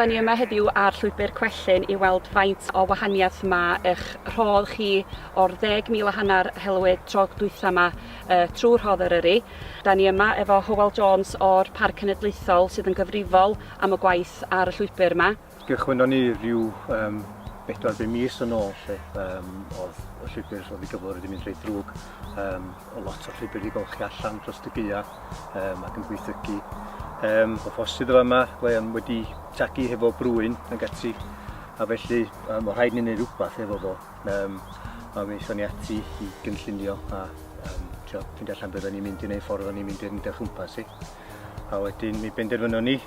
Da ni yma heddiw ar llwybr Cwellyn i weld faint o wahaniaeth mae eich rhodd chi o'r 10,000 a hanner helwyd tro dwytha yma uh, trwy rhodd Eryri. Da ni yma efo Hywel Jones o'r Parc Cenedlaethol sydd yn gyfrifol am y gwaith ar y llwybr yma. Gychwynnon ni rhyw um, bedwar be mis yn ôl lle um, oedd y llwybr oedd i gyflwr wedi mynd reit drwg. Um, o lot o llwybr wedi golchi allan dros y gyia um, ac yn gweithygu. Um, o ffosydd o yma, ble am wedi tagu hefo brwyn yn gati. A felly, um, o rhaid ni wneud rhywbeth hefo fo. Um, a mi eithon ni ati i gynllunio a um, trio fynd allan beth o'n i'n mynd i wneud ffordd o'n i'n mynd i'r mynd â chwmpas i. A wedyn mi benderfynon ni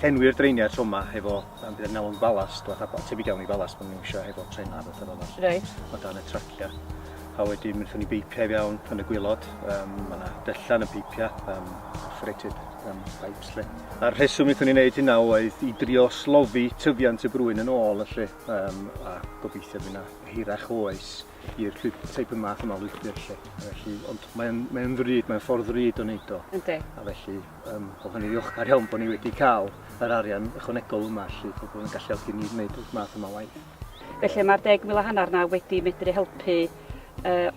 llenwi'r dreiniau tro yma efo, um, bydd yn alw'n balast, fath a tebyg iawn i balast, pan ni'n eisiau efo tren ar fath arall. Reit. O dan y traciau. A wedyn, mynd ni beipiau iawn yn y gwylod, um, mae yna dellan y peipiau, um, perforated um, pipes lle. A'r rheswm wnaethon ni wneud hynna oedd i drio slofi tyfiant y brwyn yn ôl lle, um, a gobeithio fyna hirach oes i'r teip y math yma lwybr lle. Felly, ond mae'n mae ddrud, mae'n ffordd ddrud o wneud o. Yndi. A felly, Yym, wel, hynny ddiolchgar iawn bod ni wedi cael yr arian ychwanegol yma, lle bod yn galluogi ni wneud y math yma waith. Felly mae'r 10,000 a hanner yna wedi medru helpu uh,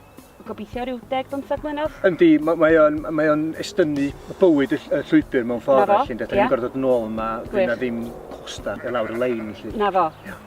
gobeithio rhyw 10 bymthag mlynedd? Yndi, mae o'n mae o'n estynnu y bywyd y llwybr mewn ffordd felly, ynde? Da ni'n gorfod dod yn ôl yma, fydd na ddim costa i lawr y lein felly. Na fo. Yeah.